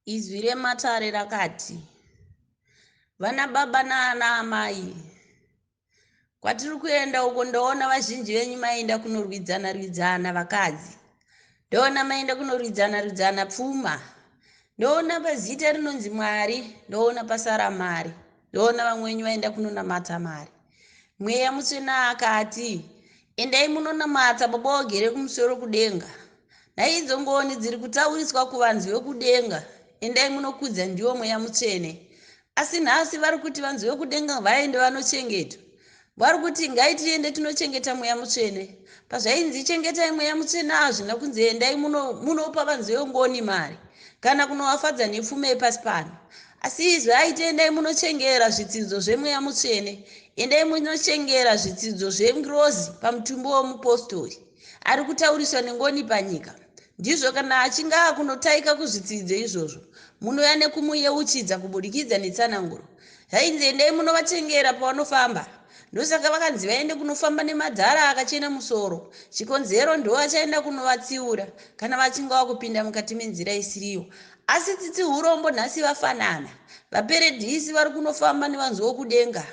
Izwi rematare rakati, Vana baba naana amai, kwatiri kuenda uko ndoona vazhinji venyu maenda kunorwidzana rwidzana vakadzi, ndoona maenda kunorwidzana rwidzana pfuma, ndoona pazita rinonzi Mwari, ndoona pasara mari, ndoona vamwe venyu vaenda kunonamata mari. mweya mutsvene akati endai munonamata baba vagere kumusoro kudenga nhai idzo ngoni dziri kutauriswa kuvanzi vekudenga endai munokudza ndiwo mweya mutsvene asi nhasi vari kuti vanzi vekudenga vaende vanochengetwa vari kuti ngai tiende tinochengeta mweya mutsvene pazvainzi chengetai mweya mutsvene hazvina kunzi endai munopa muno vanzi vengoni mari kana kunovafadza nepfuma yepasi pano. Asi izwi aiti endai munochengera zvitsidzo zvemweya mutsvene, endai munochengera zvitsidzo zvengirozi pamutumbi womupostori ari kutauriswa nengoni panyika. Ndizvo kana achinge akunotaika kuzvitsidzo izvozvo, munouya nekumuyeuchidza kubudikidza netsananguro. Zvainzi endai munovatengera pavanofamba. Ndosaka vakanzi vaende kunofamba nemadhara akachena musoro. Chikonzero ndivo vachaenda kunovatsiura kana vachinge vakupinda mukati menzira isiriyo. Asi tsitsi hurombo nhasi vafanana. Vaperedhisi vari kunofamba nevanzi vokudenga.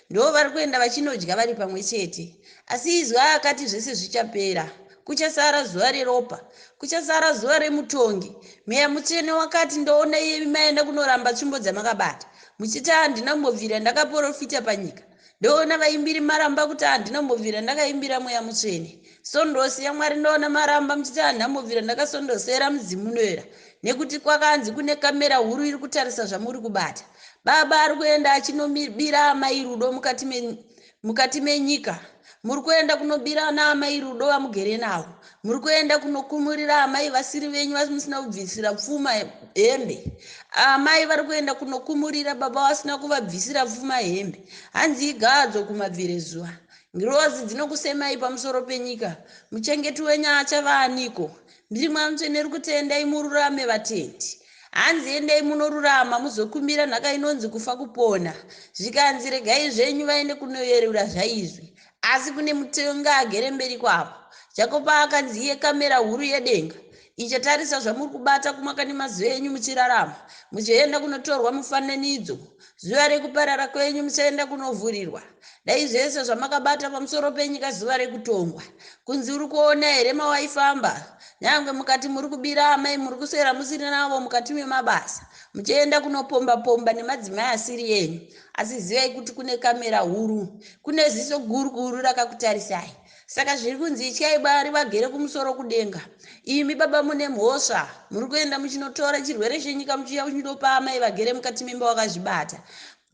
Ndivo vari kuenda vachinodya vari pamwe chete. Asi izwi aakati zvese zvichapera. Kuchasara zuva reropa. Kuchasara zuva remutongi. Mweya Mutsvene wakati, Ndoona imi maenda kunoramba tsvimbo dzamakabata. Muchiti handina kumbobvira ndakaporofita panyika. Ndoona vaimbiri maramba kuti handina kumbobvira ndakaimbira Mweya Mutsvene. Sondosi yaMwari ndoona maramba muchiti handina kumbobvira ndakasondosera mudzimu unoera. Nekuti kwakanzi kune kamera huru iri kutarisa zvamuri kubata. Baba ari kuenda achinomibira Amai Rudo mukati me, mukati menyika muri kuenda kunobira ana amai rudo vamugere navo muri kuenda kunokumurira amai vasiri venyu vamusina kubvisira pfuma hembe amai vari kuenda kunokumurira baba vasina kuvabvisira pfuma hembe hanzi igadzo kumabvire zuva ngirozi dzinokusemai pamusoro penyika muchengeti wenyu achava aniko Ndiri Mweya Mutsvene uri kuti endai mururame vatendi. Hanzi endai munorurama muzokumbira nhaka inonzi kufa kupona. Zvikanzi regai zvenyu vaende kunoyerura zvaizwi. Asi kune mutonga agere mberi kwavo. Jakopa akanzi iye kamera huru yedenga ichatarisa zvamuri kubata kumakani mazuva enyu muchirarama. Muchaenda kunotorwa mufananidzo zuva rekuparara kwenyu musaenda kunovhurirwa dai zvese zvamakabata pamusoro penyika zuva rekutongwa kunzi uri kuona here mawaifamba nyange mukati muri kubira amai muri kuswera musiri navo mukati memabasa muchienda kunopomba pomba nemadzimai asiri yenyu asi zivai kuti kune kamera huru kune ziso guru guru rakakutarisai Saka zviri kunzi ityai Mwari vagere kumusoro kudenga. Imi baba mune mhosva, muri kuenda muchinotora chirwere chenyika muchiuya muchinopa amai vagere mukati memba wakazvibata.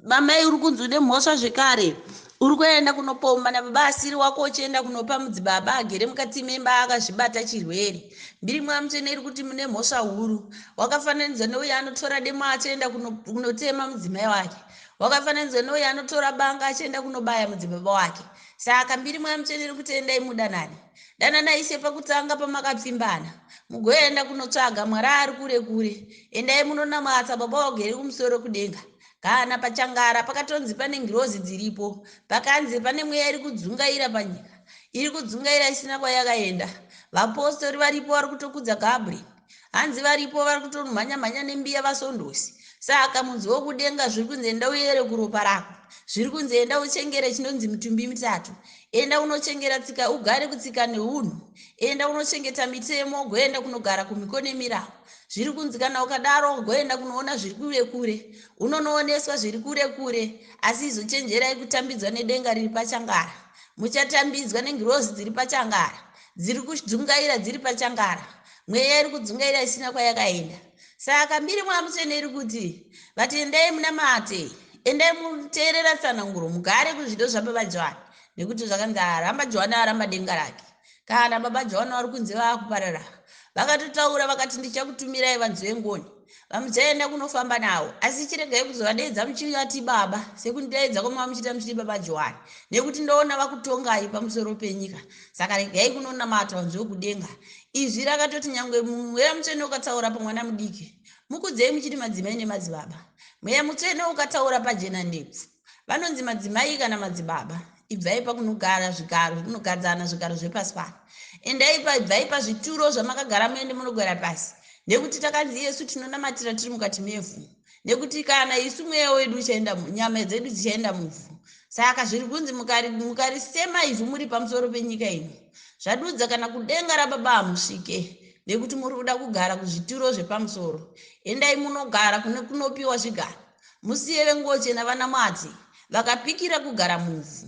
Mamai uri kunzi une mhosva zvekare. Uri kuenda kunopomba nababa asiri wako uchienda kunopa mudzibaba agere mukati memba akazvibata chirwere. Mbiri mwamutsvene iri kuti mune mhosva huru. Wakafananidzwa neuyo anotora demo achienda kunotema mudzimai wake. Wakafananidzwa neuyo anotora banga achienda kunobaya mudzibaba wake. Saka mbiri mweya mutsvene iri kuti endai mudanane. Danana ishe pakutanga pamakapfimbana. Mugoenda kunotsvaga mwari ari kure kure. Endai munonamwatsa baba vagere kumusoro kudenga. Kana pachangara pakatonzi pane ngirozi dziripo. Pakanzi pane mweya iri kudzungaira panyika. Iri kudzungaira isina kwayakaenda. Vapostori varipo vari kutokudza Gabriel. Hanzi varipo vari kutomhanya mhanya nembiya vasondosi. Saka mudzi wokudenga zviri kunzi enda uyere kuropa rako. Zviri kunzi enda uchengere chinonzi mitumbi mitatu. Enda unochengera tsika ugare kutsika neunhu. Enda unochengeta mitemo ugoenda kunogara kumhiko nemirau. Zviri kunzi kana ukadaro ugoenda kunoona zviri kure kure. Unonooneswa zviri kure kure. Asi izochenjerai kutambidzwa nedenga riri pachangara. Muchatambidzwa nengirozi dziri pachangara. dziri kudzungaira dziri pachangara mweya iri kudzungaira isina kwayakaenda saka mbiri mwamutsvene iri kuti vati endai munamate endai muteerera tsananguro mugare kuzvido zvababa johani nekuti zvakanzi aramba johani aramba denga rake kana baba johani vari kunzi vaakuparara vakatotaura vakati ndichakutumirai vanzi vengoni VaMudzai enda kunofamba nawo asi chiregai kuzovadeedza muchivati baba sekundidaidza kwamava muchiita muchiti baba Johani nekuti ndoona vakutongai pamusoro penyika saka regai kunonamata wanzwe wekudenga izwi rakatoti nyangwe mweya mutsvene ukataura pamwana mudiki mukudzei muchiti madzimai nemadzibaba mweya mutsvene ukataura pajena ndebvu vanonzi madzimai kana madzibaba ibvai pakunogara zvigaro zvekunogadzana zvigaro zvepasi pano endai paibvai pazvituro zvamakagara muende munogara pasi nekuti takanzi yesu tinonamatira tiri mukati mevhu nekuti kana isu mweya wedu uchaenda nyama dzedu dzichaenda muvhu saka zviri kunzi mukarisema ivhu muri pamusoro penyika ino zvadudza kana kudenga rababa hamusvike nekuti muri kuda kugara kuzvituro zvepamusoro endai munogara kune kunopiwa zvigaro Musiye venguo chena vanamwati, vakapikira kugara muvhu.